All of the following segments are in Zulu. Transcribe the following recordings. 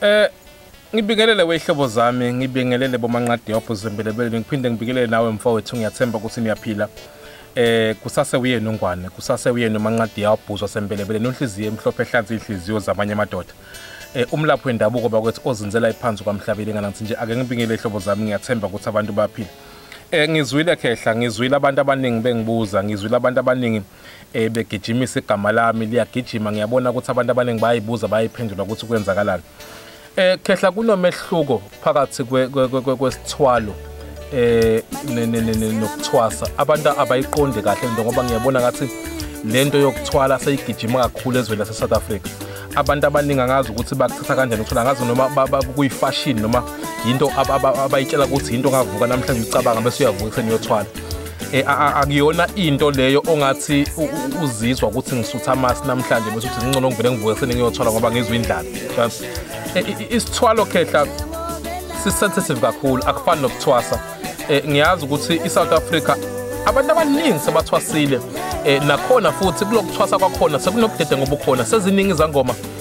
Eh ngibingelele wehlobo zami ngibingelele bomanqadi yopho zembelebele ngiphinde ngibingelele nawe mfowethu ngiyathemba ukuthi niyaphila eh kusase uyena ungwane kusase uyena umanqadi yabhuzwa sembelebele nonhliziyo emhlophe ehlanza inhliziyo zamanye amadoda eh umlaphi wendabuko bakwethu ozinzela iphansi kwamhlabile ngana ngithi nje ake ngibingelele hlobo zami ngiyathemba ukuthi abantu baphila eh ngizwile khehla ngizwile abantu abaningi bengibuza ngizwile abantu abaningi eh begijimisa igama lami liyagijima ngiyabona ukuthi abantu abaningi bayibuza bayiphendula ukuthi kwenzakalani eh khehla kunomehluko phakathi kwesithwalo eh nokuthwasa abantu abayiqonde kahle into ngoba ngiyabona ngathi lento yokuthwala seyigijima kakhulu ezweni lase South Africa abantu abaningi angazi ukuthi bakuthatha kanjani ukuthola ngazi noma kuyifashion noma yinto abayitshela ukuthi yinto ngavuka namhlanje ucabanga bese uyavuka seniyothwala Eh, akuyona into leyo ongathi uzizwa ukuthi ngisutha amasi namhlanje bese uthi ngcono ngivele ngivuke sene ngiyothwala ngoba ngizwe indlala eh, isithwalo khehla sisensitive kakhulu akufani nokuthwasa eh, ngiyazi ukuthi i-south africa abantu abaningi sebathwasile nakhona futhi kulokuthwasa kwakhona sekunobudedengo obukhona seziningi izangoma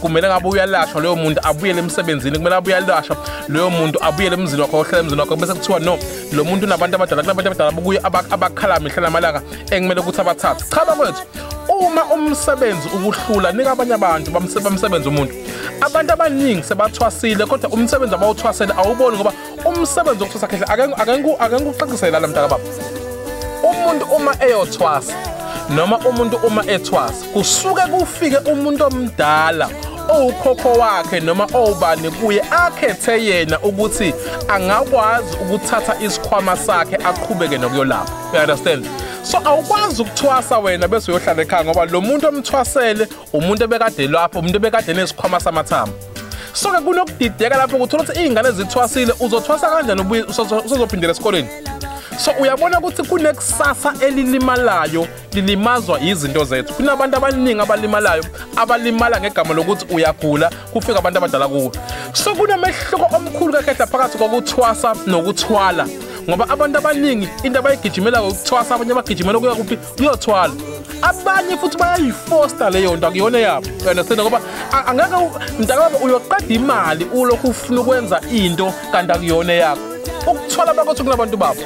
kumele ngabe uyalashwa leyo muntu abuyele emsebenzini kumele abuye alashwa leyo muntu abuyele emzini wakho ohlala emzini wakho bese kuthiwa no lo muntu unabantu abadala kunabantu abadala bokuye abakhala mihla namalanga ekumele ukuthi abathathe cha bakwethu uma umsebenzi ukuhlula nika abanye abantu bamsebenzi umuntu abantu abaningi sebathwasile kodwa umsebenzi abawuthwasele awuboni ngoba umsebenzi wokuthwasa khehle akengikuqaqisele lana mntaka baba umuntu uma eyothwasa noma umuntu uma ethwasa kusuke kufike umuntu omdala owukhokho wakhe noma owubani kuye akhethe yena ukuthi angakwazi ukuthatha isikhwama sakhe aqhubeke nokuyolapha you understand so awukwazi ukuthwasa wena bese uyohlala ekhaya ngoba lo muntu omthwasele umuntu ebekade lapho umuntu ebekade nesikhwama samathambo so ke kunokudideka lapho ukuthola ukuthi iy'ngane zithwasile uzothwasa kanjani ubuye usozophindela esikoleni so uyabona ukuthi kunekusasa elilimalayo lilimazwa yizinto zethu kunabantu abaningi abalimalayo abalimala ngegama lokuthi uyagula kufika abantu abadala kuwe so kunomehluko omkhulu kakhehla phakathi kokuthwasa nokuthwala ngoba abantu abaningi into abayigijimela ukuthwasa abanye bagijimela ukuya kuphi iyothwala abanye futhi bayayifosta leyo nto akuyona yabo understand ngoba angeke mntakababa uyoqeda imali ulokhu ufuna ukwenza into kanti akuyona yakho ukuthwala bakothi kunabantu babo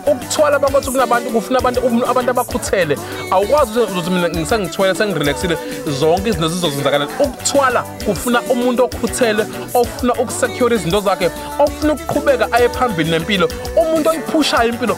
ukuthwala bakothi kunabantu kufuna abantu abantu abakhuthele awukwazi ukuthi mina ngisengithwele sengirelaxile zonke izinto zizozenzakalela ukuthwala kufuna umuntu okhuthele ofuna ukusecure izinto zakhe ofuna ukuqhubeka aye phambili nempilo umuntu oyiphushayo impilo